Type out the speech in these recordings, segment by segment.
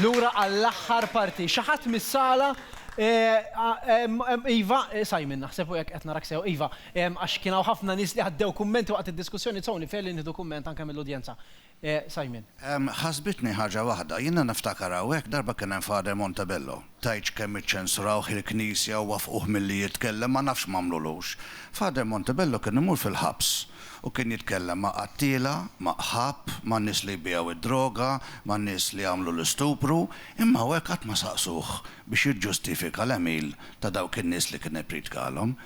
Lura għall-aħħar parti. Xi ħadd mis-sala Iva, Simon naħseb u jekk qed narak sew, iva, għax kien hawn ħafna nies li għaddew kummenti waqt id-diskussjoni so nifel li nieħdu kumment anke mill-udjenza. Simon. Ħasbitni ħaġa waħda. Jiena niftakar hawnhekk darba kien hemm Father Montebello. Tgħidx kemm iċċensurawh il-Knisja u waffquh milli jitkellem, ma nafx m'għamlulux. Father Montebello kien imur fil-ħabs u kien jitkellem ma' qattiela, ma' qħab, ma' nies li jbigħu id-droga, ma' nies li jagħmlu l-istupru, imma hawnhekk qatt ma saqsuh biex jiġġustifika l-għemil ta' dawk in-nies li kien ippriedkalhom.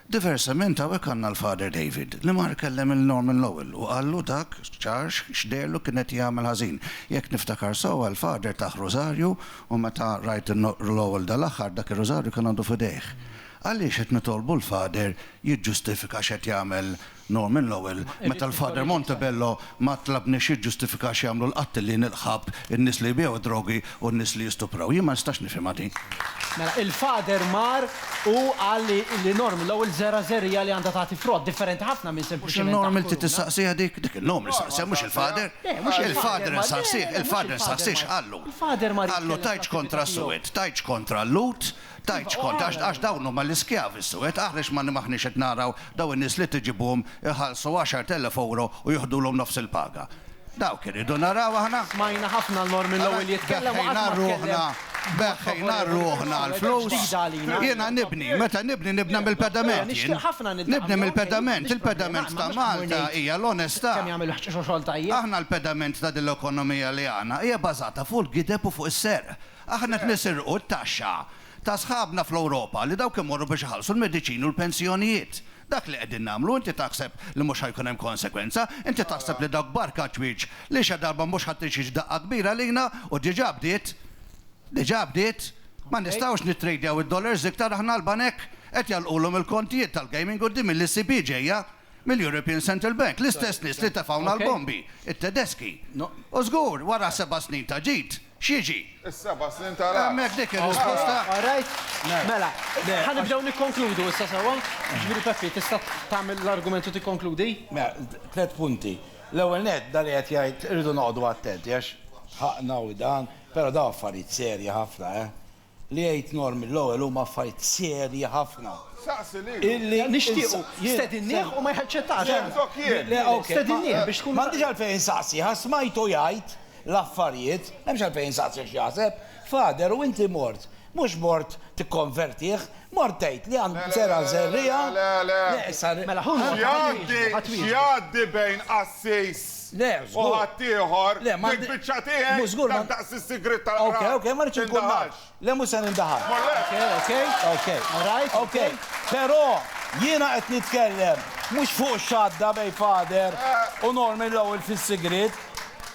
Diversament hawnhekk għandna l-Father David li mar kellem lil Norman Lowell u qallu dak ċar x'deherlu kien qed jagħmel ħażin. Jekk niftakar sewwa l-Father tah rużarju u meta rajt lil Lowell dal-aħħar dak ir-rużarju kien għadu f'idejh. Għaliex qed nitolbu l-Father jiġġustifika x'qed jagħmel No, minn l-ewwel, meta l-Father Montebello ma tlabniex jiġġustifika x'jagħmlu l-qattilin, il-qħab, in-nies li jbiegħu d-drogi u n-nies li jistupraw. Jien ma nistax nifhimha din. Mela, il-Father mar u qal li li Norm l-ewwel żera' żerriegħa li għandha tagħti frott, differenti ħafna minn Mhux sempliċement il-Norm taħt inti kuruna. tistaqsiha dik? Dik il-Norm li staqsiha, mhux il-Father. Le, mhux il-Father Il-Father mar, le, insaqsih, le, mhux il-Father il-Father insaqsih mar. x'qallu. Il-Father mar Qallu jitkellem tgħidx għall-qattività kontra tiegħu. s-suwed, tgħidx kontra l-Lhud, Tgħidx kont, għax dawn huma l-iskjavi suwed, aħrex ma maħniex qed naraw dawn in-nies li tiġibuhom iħallsu għaxart elef ewro u jiħdulhom nofs il-paga. Dawk irridu naraw aħna. Smajna ħafna l-mor mill-ewwel jitkellem u qatt ma tkellem b'mod favorevoli. Beħħejna rruħna għall-flus. Jiena nibni, meta nibni nibna mill-pedament jien. Nibni mill-pedament, il-pedament ta' Malta hija l-onestà. Aħna l-pedament ta' din l-ekonomija li għandna hija bażata fuq il-gideb u fuq is-serq. Aħna qed nisirqu t-taxxa ta' sħabna fl-Ewropa li dawk imorru biex iħallsu l-mediċini u l-pensjonijiet. Dak li qegħdin nagħmlu inti taħseb li mhux ħa jkun hemm konsegwenza? Inti taħseb li dawk barka ċwieċ li xi darba mhux ħa tixix daqqa kbira lejna u diġà bdiet, diġà bdiet, ma nistgħux nittradejaw id-dollars iktar aħna l-banek qed jagħlqulhom il-kontijiet tal-gaming quddiem il-ECB ġejja mill-European Central Bank, l-istess nies li tefgħuna l-bombi, it-Tedeski. U żgur wara seba' snin ta' ġid. X'jiġi? Is-seba' snin ta' ragħad. Hemmhekk dik ir-risposta. All right. Mela, ħa nibdew nikkonkludu issa sewwa. Jiġifieri Peppi, tista' tagħmel l-argument u tikkonkludi? Mela, tliet punti. L-ewwel nett, dan li qed jgħid irridu noqogħdu attenti għax ħaqna u dan, però dawn affarijiet serji ħafna, eh. Li għidt Norm mill-ewwel huma affarijiet serji ħafna illi nixtiequ. Stedinnieh u ma jħeċċettax. Stedinnieh biex tkun. M'għandix għalfejn insaqsih għax smajtu jgħid l-affarijiet, m'hemmx għalfejn insaqsih x'jaħseb. Father, u inti mort, mhux mort tikkonvertih, Mort tgħid li għand Zera' Żerriegħa, neqsar X'jgħaddi bejn qassis u ħaddieħor, dik biċċa tiegħi, dan daqs is-sigriet tal-qrab, tindaħalx. Le mhux se nindaħal. Però jiena qed nitkellem mhux fuq x'għadda bejn Father u Norman l-ewwel fis-sigriet.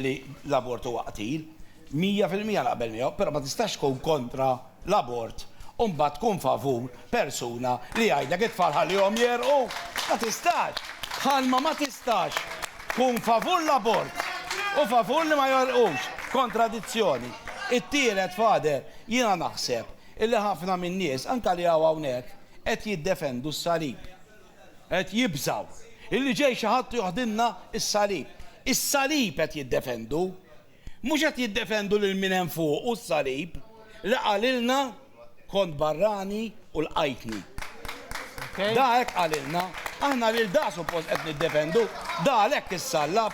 li l-abort huwa qtil, mija fil-mija naqbel miegħu, però ma tistax tkun kontra l-abort u mbagħad tkun favur persuna li jgħidlek it-tfal ħallihom jegħrqu. Ma tistax! Bħalma ma tistax tkun favur l-abort u favur li ma jegħrqux. Kontradizzjoni. It-tielet, Father, jiena naħseb illi ħafna min-nies, anke li hawn hawnhekk, qed jiddefendu s-salib. Qed jibżgħu illi ġej xi ħadd u joħdilna s-salib. Is-salib qed jiddefendu. Mhux qed jiddefendu lil min hemm fuq u s-salib li qalilna kont barrani u lqajtni. Da hekk qalilna. Aħna lil da suppost qed niddefendu. Da għalhekk issallab.